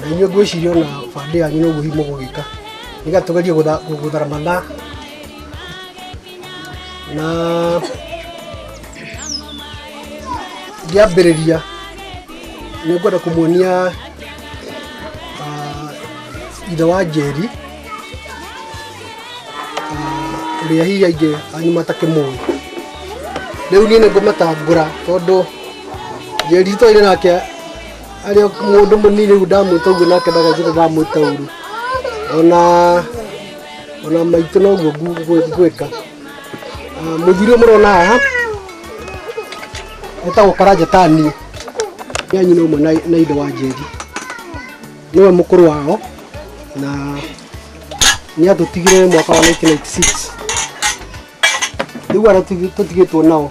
na inyuĩ ngwĩciria ona bandĩ yanyu no guo himo gũgĩka nĩga tũgerie gũtha- gũthara mathaa na ngĩambĩrĩria nĩ ngwenda kũmuonia ah, ithe wa njeri ah, ũrĩa hihi aingĩ anyu matakĩmũĩ rĩu niĩ nĩ ngũmatangũra tondũ njeri twaire nake arĩ o mũndũ mũnini rĩu ndamwĩta ũguo nake ndagacire ndamwĩta ũru ona ona maitũ noguo ngu- ngwĩ- ngwĩka Ah, mũthuri ũyũ mũrona haha etagwo karanja tani nĩ anyina ũmwe na- na ithe wa njeri nĩwe mũkũrũ wao na nĩ atũtigire mwaka wa 1996 rĩu arĩa tũtigĩtwo nao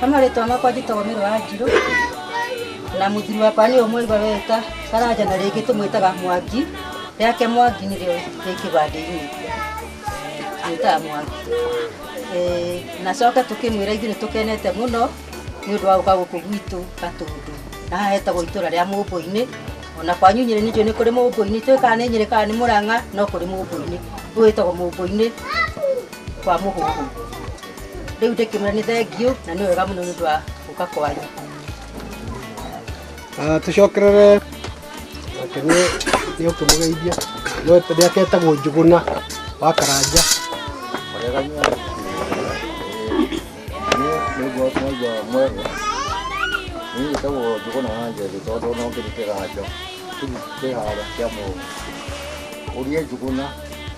Kama rĩtwa makwa njĩtagwo mĩrũ wa njirũ na mũthuri wakwa nĩ ũmũigwa weta karanja na rĩngĩ tũmwĩtaga mwangi rĩake mwangi nĩrĩo rĩ kĩbandĩ-inĩ twĩtaga mwangi Eh, na coke tũkĩmwĩra ithuĩ nĩ tũkenete mũno nĩ ũndũ wa gũka gũkũ gwitũ gatũndũ na haha hetagwo itũra rĩa mũmbũinĩ ona kwanyu nyĩrĩ nĩnjũ nĩ kũrĩ mũmbũinĩ itũĩ kana nĩ nyĩrĩ kana nĩ mũrang'a no kũrĩ mũmbũinĩ ũyũ wĩtagwo mũmbũinĩ kwa mũhũhũ rĩu ndĩkĩmwĩra nĩ thengiũ na nĩ wega mũno nĩ ũndũ wa gũka kwanyu Ah, tucokerere nake nĩ nĩ ũkĩmũgeithia no ndĩake etagwo njũgũna wa karanja nĩguo mwaigua mwega niĩ njĩtagwo njũgũna wa njeri tondũ no ngĩrĩ kĩganjo kĩu kĩhara kĩa mũndũ ũrie njũgũna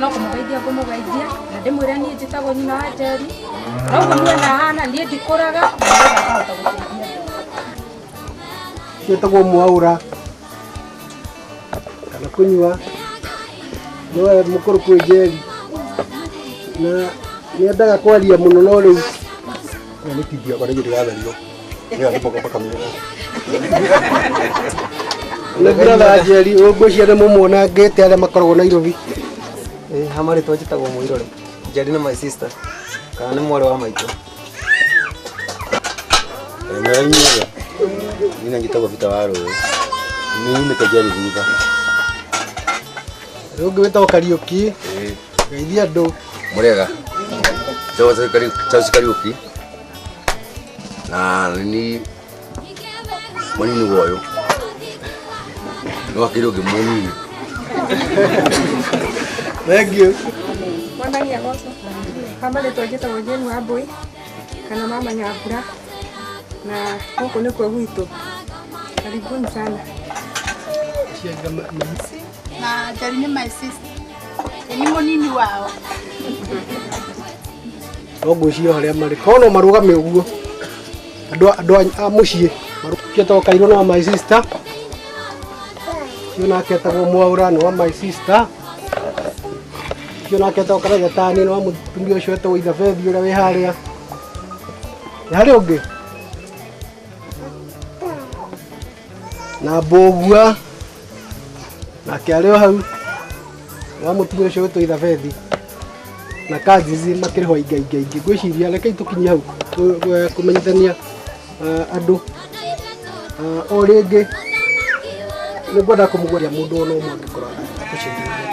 no kũmũgeithia ngũmũgeithia na ndĩmwĩre niĩ njĩtagwo nyina wa njeri na ũguo muona hana niĩ ndikũraga na nĩgetha ngahota gũteithia ciĩtagwo mwaura kana kũnyua nĩwe mũkũrũ kwĩ njeri na nĩendaga kwaria mũno no rĩu na nĩ kĩngiago nĩ gĩtĩgatherio Mira, hace poco para caminar. Nĩ brother Njeri, ũngũcia nĩ mũmuona ngĩte arĩa makoragwo Nairobi. Eh, hama rĩtwa njĩtagwo Mũirore. Njeri nĩ my sister. Kana nĩ mwarĩ wa maitũ. Mera inyuothe. Nina ngĩtagwo Peter wa Rũĩ. Nĩ nyumĩte Njeri thutha. Rĩu ũngĩ wĩtagwo Kariũki, geithia andũ. Mũrega. Charles Kariuki. na ni mwanini woyo nowakire ungi munini Thank you. Mwathani agocwo. Hama rĩtwa njĩtagwo Jane Wambui kana mama Nyambura na gũkũ nĩkuo gwitũ. Karibuni sana. na Njeri nĩ my sister. Nĩ mũnini wao. no ngwĩciria o harĩa marĩ korwo no marũgame ũguo andũ a- andũ a- a mũciĩ ketagwo kairũ no my sister ũcio nake etagwo mwaura nĩ wa my sister ũcio nake etagwo karagatani nĩ wa mũtumia ũcio etagwo ithabethi ũrĩa wĩ harĩa nĩ harĩ ũngĩ na mbũgua nake arĩ o hau wa mũtumia ũcio wĩtwo ithabethi na kanjizi makĩrĩ ho ingaingaingĩ ngwĩciria rekei tũkinyie hau kũ- kũ- kũmenyithania ah, andũ Ah, o rĩngĩ nĩ ngwenda kũmũgwaria mũndũ ona ũmwe angĩkorwo akũcenjeria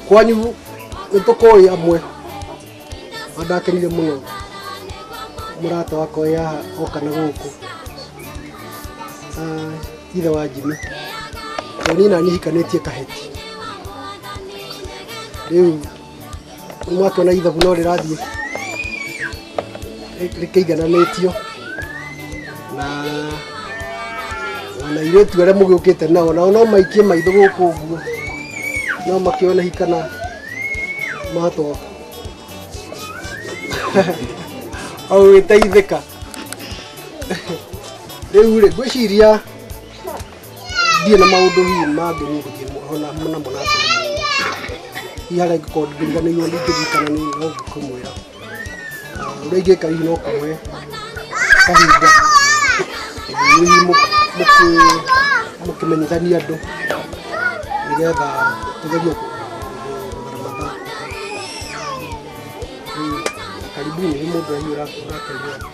kwanyu nĩ tũkũĩ amwe Wandakarire mũno mũrata wakwa wĩ haha oka na gũkũ Ah, ithe wa Jimmy tondũ niĩ naniĩ hikanĩtie kaheti rĩu nĩmwakĩona ithabu no rĩrathiĩ rĩ- rĩkĩigananĩtio na ona irĩtu arĩa mũgĩũkĩte nao nao no maikie maitho gũkũ ũguo no makĩone hikana matwa augĩteithĩka rĩu rĩ ngwĩciria ndirĩ na maũndũ hihi mangĩ niĩ ngũkĩhona namo na atĩrĩ hihi harĩa ingĩkorwo ndiriganĩirwo ningĩririkana nĩ no ngũkĩmwĩra Ũrĩa ingĩka hihi no kuoe kahinda hihi mũ- mũkĩ- mũkĩmenyithania andũ nĩgetha tũgerie kũ- gũthara mathaa. Mm, Karibuni nĩ mũndũ ũrĩa ũrateithia.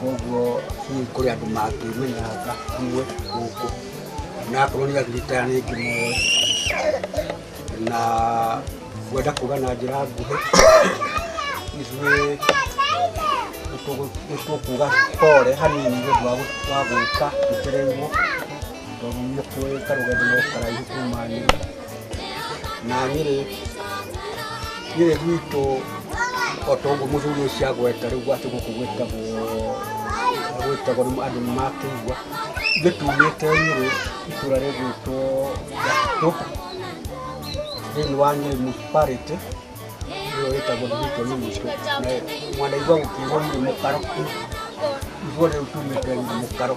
koguo hihi kũrĩ andũ mangĩmenyanga hamwe gũkũ na akorwo nĩ agirikaya nĩ ngĩmoe na ngwenda kuga na njĩra nguhĩ ithuĩ nĩtũkuga pore hanini nĩ ũndũ wa gũ- wa gũka tũtereirwo tondũ nĩ kũrĩ karũgendo no karaihu kuma nyũmba na nyĩrĩ nyĩrĩ gwitũ o ta ũguo mũthuri ũcio agweta rĩu gwake gũkũ gwĩtagwo gwĩtagwo nĩ andũ nĩ makĩigua ithuĩ tumĩte nyĩrĩ itũra rĩgwĩtwo gatitũ thĩinĩ wa nyĩrĩ municipality nĩyo ĩtagwo ndĩgĩtwo nĩ mũico mwanaigua gũkĩrwo nyĩrĩ mũkaro ithuothe rĩu tumĩte nyĩrĩ mũkaro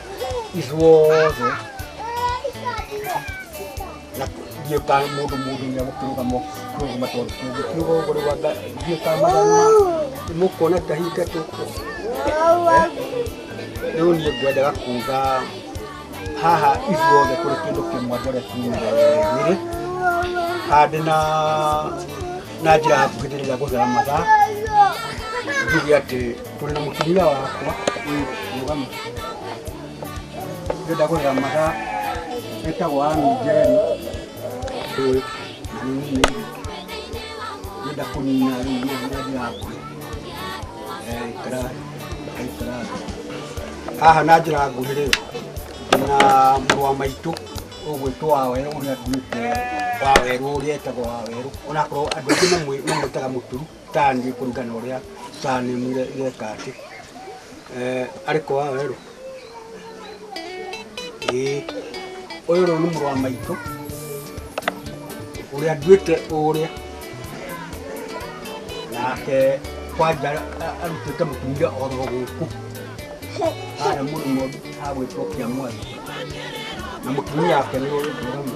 ithuothe na ithuĩ ka mũndũ mũndũ nĩ agũkĩrũgama kũrũgama tondũ tũngĩkiuga ũguo rĩu anga ithuĩ ka mathana mũkuona kahinga tũkũ rĩu niĩ ngwendaga kuga haha ithuothe kũrĩ kĩndũ kĩmwe ndore kiugĩrĩ handĩ na na njĩra hakuhĩndĩrĩria gũthera mathaa njuge atĩ turi na mutumia wakwa uyu mugamu ngenda kurira mata etagwo ami jeri uyu nini ngenda kunina riu ngadi yaku ikarari ikarari haha na njira nguhi riu na mũrũ wa maitũ ũgwĩtwo wawerũ ũrĩa nduĩte wawerũ ũrĩa etagwo wawerũ onakorwo andũ aingĩ mamwĩtaga mũturu tani kũringana ũrĩa tani mire ireka atĩ eh, arĩ kwa werũ ĩĩ ũyũ rĩu nĩ mũrũ wa maitũ ũrĩa nduĩte ũrĩa nake kwanja a- arutĩte mũtumia oro gũkũ harĩa mũrĩmo hagwĩtwo kĩa mwathi na mũtumia wake nĩ ũrĩtũramu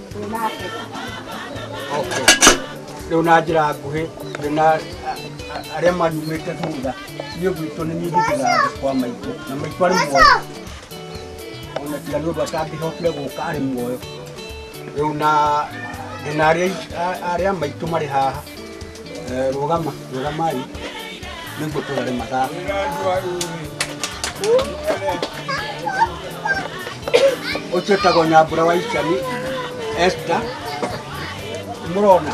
nake Okay. Rĩu na njĩra nguhĩ ndĩ na a- a- arĩa manumĩte thutha niĩ gwitũ nĩ nyingĩtĩra kwa maitũ na maitũ arĩ muoyo ona tiga nĩ ũndũ atangĩhotire gũka arĩ muoyo rĩu na ndĩ na arĩa arĩa maitũ marĩ haha Eh, rũgama rũgamai nĩguo tũrare mathaa ũcio ũtagwo nyambura wa icani esta mũrona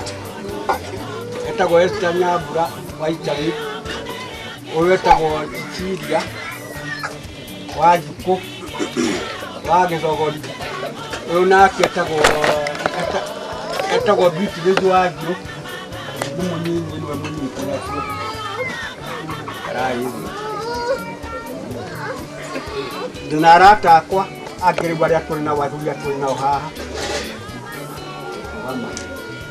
etagwo esta nyambura wa icani ũyũ etagwo ciciria wa njukũ wa gĩthogori ũyũ nake etagwo eta- etagwo bitirithi wa ngirũ nĩ mũnyinyi nĩwe mũnyinyi kũracio karai thĩ ndĩ na arata akwa angĩ rĩu arĩa tũrĩ nao athuri a tũrĩ nao haha Mama.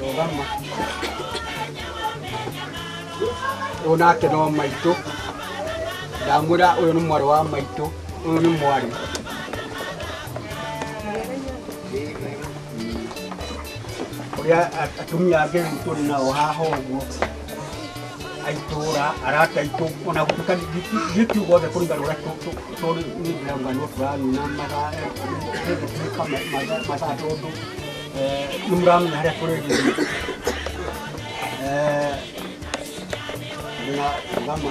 Rũgama. Ũyũ nake no maitũ. Ndamwĩra ũyũ nĩ mwarĩ wa maitũ. Ũyũ nĩ mwarĩ. Ũrĩa atumia angĩ tũrĩ nao haha ũguo. aitũra arata aitũ ona gũtuka gĩtugo othe kũringana ũrĩa tũrĩ nĩ ndĩramganwo tũranina mathaatuĩka mathaa tondũ nĩ mũramenya harĩa kũrĩ gĩthiĩ na gama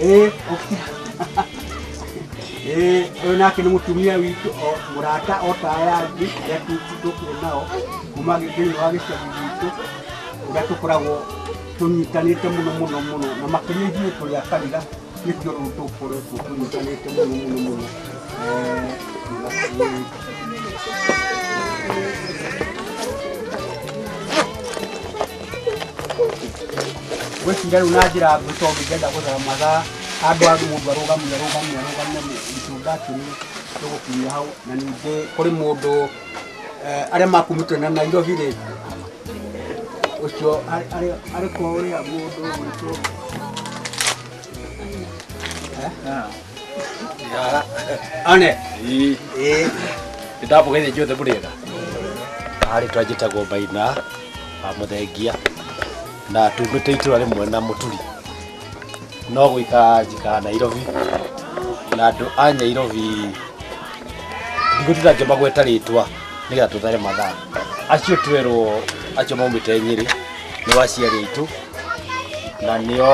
Eh, okay. Eh, ũyũ nake nĩ mũtumia witũ o mũrata o ta aya angĩ arĩa tũkuo nao kuma thĩinĩ wa gĩcagi gitũ ũrĩa tũkoragwo tũnyitanĩte mũno mũno mũno na makĩria ithuĩ tũrĩ a kanitha nĩkĩo rĩu tũkoretwo tũnyitanĩte mũno mũno mũno Eh, gwĩciria rĩu na njĩra nguhĩ tondũ ingĩenda gũthara mathaa andũ a mũndũ arũgamia arũgamia arũgamia itunda kĩrĩ tũgũkinyia hau na ningĩ kũrĩ mũndũ eh, arĩa makumĩtwo na Nairobi rĩ ũcio arĩ- arĩ- arĩ kwa ũrĩa mũndũ witũ one ĩĩ ndapũgeithia inyuothe mũrĩega harĩ twanjĩtagwo maina wa mũthengia na tumĩte itũra rĩmwe na mũturi no gwĩka njikaga nairobi na andũ a nyairobi ndigũtinda ngĩmagweta rĩtwa nĩgetha tũthare mathaa acio twerwo acio maumĩte nyĩrĩ nĩ waciari aitũ na nĩo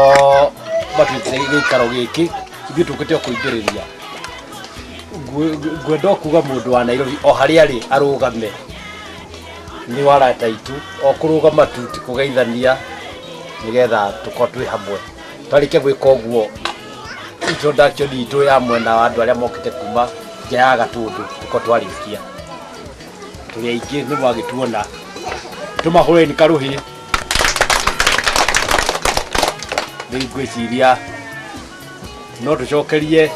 matuĩte gĩikaro gĩkĩ ithuĩ tũkĩte o kũingĩrĩria Ngwe- ngwenda o kuga mũndũ wa nairobi o harĩa arĩ arũgame nĩ wa arata aitũ o kũrũgama tu ti kũgeithania nĩgetha tũkorwo twĩ hamwe twarĩkia gwĩka ũguo introduction itũ ya mwena wa andũ arĩa mokĩte kuma nja ya gatũndũ tũkorwo twarĩkia tũrĩ aingĩ nĩ mwagĩtuona tũmahũreni karũhĩ rĩu ngwĩciria no tũcokerie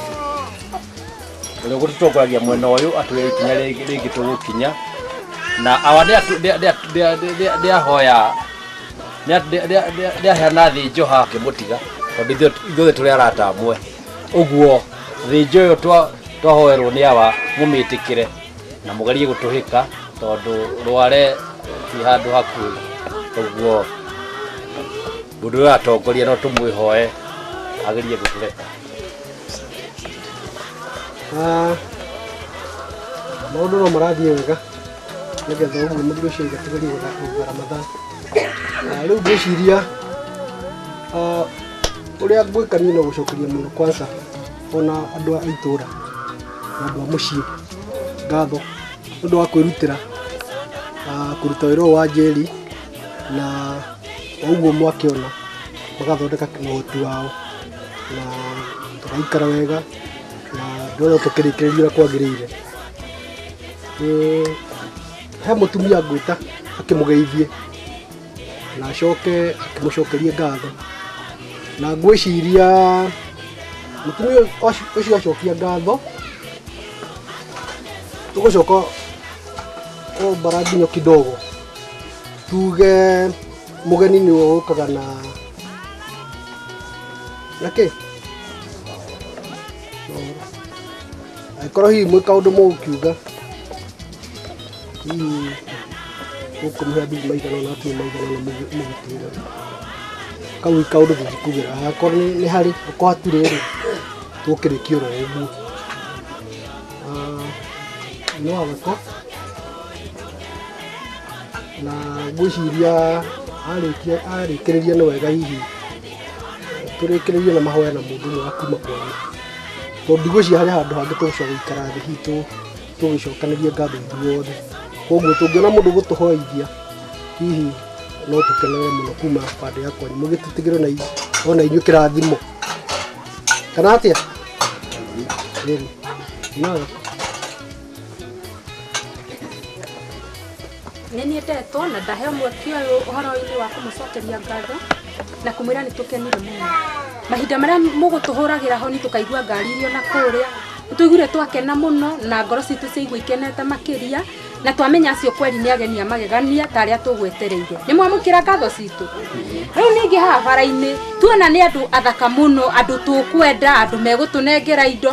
Ũrĩa ũgũtũtongoragia mwena ũyũ atwĩre ikinya rĩngĩ rĩngĩ tũgũkinya na awa nĩ atũ- nĩ- nĩ- nĩ- nĩ- nĩ ahoya nĩ- nĩ- nĩ- nĩ- nĩ aheana thĩ njoha ngĩmũtiga tondũ ithuĩ ithuothe tũrĩ arata amwe ũguo thĩ njo ĩyo twa- twahoerwo nĩ awa mũmĩtĩkĩre na mũgerie gũtũhĩka tondũ rware ti handũ hakuhĩ ũguo mũndũ ũyũ atongoria no tũmwĩhoe agerie gũtũreka Ah, maũndũ no marathiĩ wega nĩgetha ũguo mũndũ ũcio igatigaria gũthakũnga ramadhan Ah, rĩu ngwĩciria ah, ũrĩa ngwĩka niĩ no gũcokeria mũno kwanza ona andũ a itũũra na andũ a mũciĩ ngatho nĩ ũndũ wa kwĩrutĩra ah, kũruta wĩra ũyũ wa njeri na o ũguo mwakĩona magathondeka kĩmũhoti wao na tũgaikara wega na ndĩrona tũkĩrĩkĩrĩria ũrĩa kwagĩrĩire. He mũtumia ngwĩta akĩmũgeithie na acoke akĩmũcokerie ngatho, na ngwĩciria mũtumia ũcio acokia ngatho tũgũcoka kũmbara nginya kidogo tuge. Mũgeni nĩwe ũkaga na na kĩ angĩkorwo hihi mwĩ kaũndũ mũgũkiuga hihi gũkũmũhe mbithi maigana na atumĩ maigana na mũgĩtĩra kau i kaũndũ tũngĩkugĩra akorwo nĩ nĩ harĩ akorwo hatirĩ rĩ tũkĩrĩkia oro ũguo Ah, no agako na ngwĩciria arĩkia arĩkĩrĩria nĩ wega hihi tũrĩkĩrĩrie na mahoya na mũndũ ũmwe wa kuma kwanyu tondũ ndigwĩciria harĩ handũ hangĩ tũgũcoka gũikara thĩ hihi tũ- tũgĩcokanĩrie ngatho ithuothe koguo tũngĩona mũndũ gũtũhoithia hihi no tũkenere mũno kuma bandĩ ya kwanyu mũgĩtĩtigĩre na i- ona inyuĩ kĩrathimo kana atĩa Ĩĩ. Nawe. Nĩ niĩ ndetwo na ndaheo mweke ũyũ ũhoro-inĩ wa kũmũcokeria ngatho na kũmwĩra nĩ tũkenire mũno. Mahinda marĩa mũgũtũhũragĩra honi tũkaigua ngari irĩ o na kũrĩa, nĩ twaiguire twakena mũno na ngoro citũ ciaigua ikenete makĩria na twamenya acio kweri nĩ ageni a magegania ta arĩa tũgwetereire. Nĩ mwamũkĩra ngatho citũ? Rĩu ningĩ haha bara-inĩ tuona nĩ andũ athaka mũno, andũ tũkwenda, andũ megũtũnengera indo,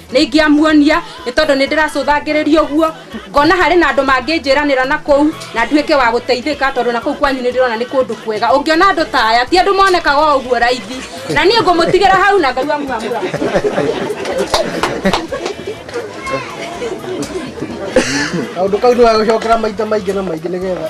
nĩ ingĩamuonia nĩ tondũ nĩ ndĩracũthangĩrĩria ũguo ngona harĩ na andũ mangĩnjĩranĩra na kũu na nduĩke wa gũteithĩka tondũ na kũu kwanyu nĩ ndĩrona nĩ kũndũ kwega ũngĩona andũ ta aya ti andũ monekaga o ũguo raithi na niĩ ngũmũtigĩra hau na ngai wangu amũra kaundu kau nä wagåcokera maita maingä na maingä nä getha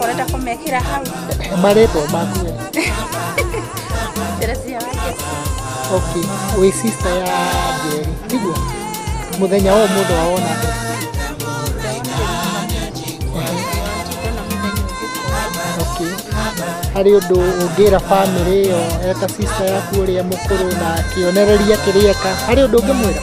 Ũrenda kũmekĩra hau. Marĩtwa maku. Teresia wa Jesu. Okay. Wĩ sister ya Njeri. Niguo. Mũthenya wa ũmũthĩ wawona atĩa? Okay. Harĩ ũndũ ũngĩra bamĩrĩ ĩyo eta sister yaku ũrĩa mũkũrũ na kĩonereria kĩrĩeka. Harĩ ũndũ ũngĩmwĩra?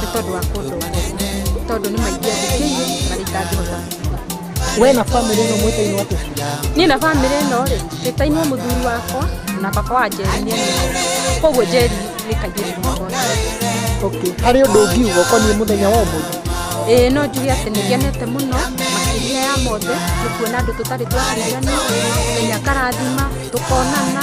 nĩ tondũ wa kũndongoria tondũ nĩ maingĩ andĩkĩire na rĩtangĩhota we na bamĩrĩ ĩno mwĩtainwo atĩa niĩ na bamĩrĩ ĩno rĩ twĩtainwo mũthuri wakwa na baba wa njeri nĩ anyiitwo koguo njeri nĩ kairĩtu mũno okay harĩ ũndũ ũngiuga ũkoniĩ mũthenya wa ũmũthĩ ĩĩ no njuge atĩ nĩ ngenete mũno makĩria ya mothe nĩ kuona andũ tũtarĩ twakĩigana ngai akarathima tũkonana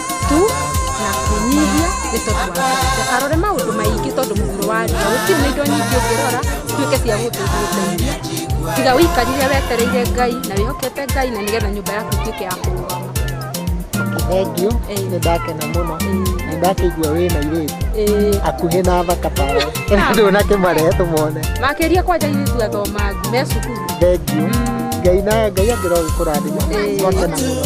tu na kwĩnyihia nĩ tondũ wa Ngai. arore maũndũ maingĩ tondũ mũhuro wa riũa gũtirĩ na indo nyingĩ ũngĩrora tuĩke cia gũtũteithia tiga ũikarire wetereire ngai na wĩhokete ngai na nĩgetha nyũmba yaku ĩtuĩke ya kũrũgama thengiũ Ĩĩ. nĩ ndakena mũno na ndakĩigua wĩ na irĩti Ĩĩ. akuhĩ na thaka tawe ndũ na kĩmarehe tũmone makĩria kwanja irĩtu athomangu me cukuru thengiũ ngai na ngai angĩrogĩkũrathima Ĩĩ. wakena mũno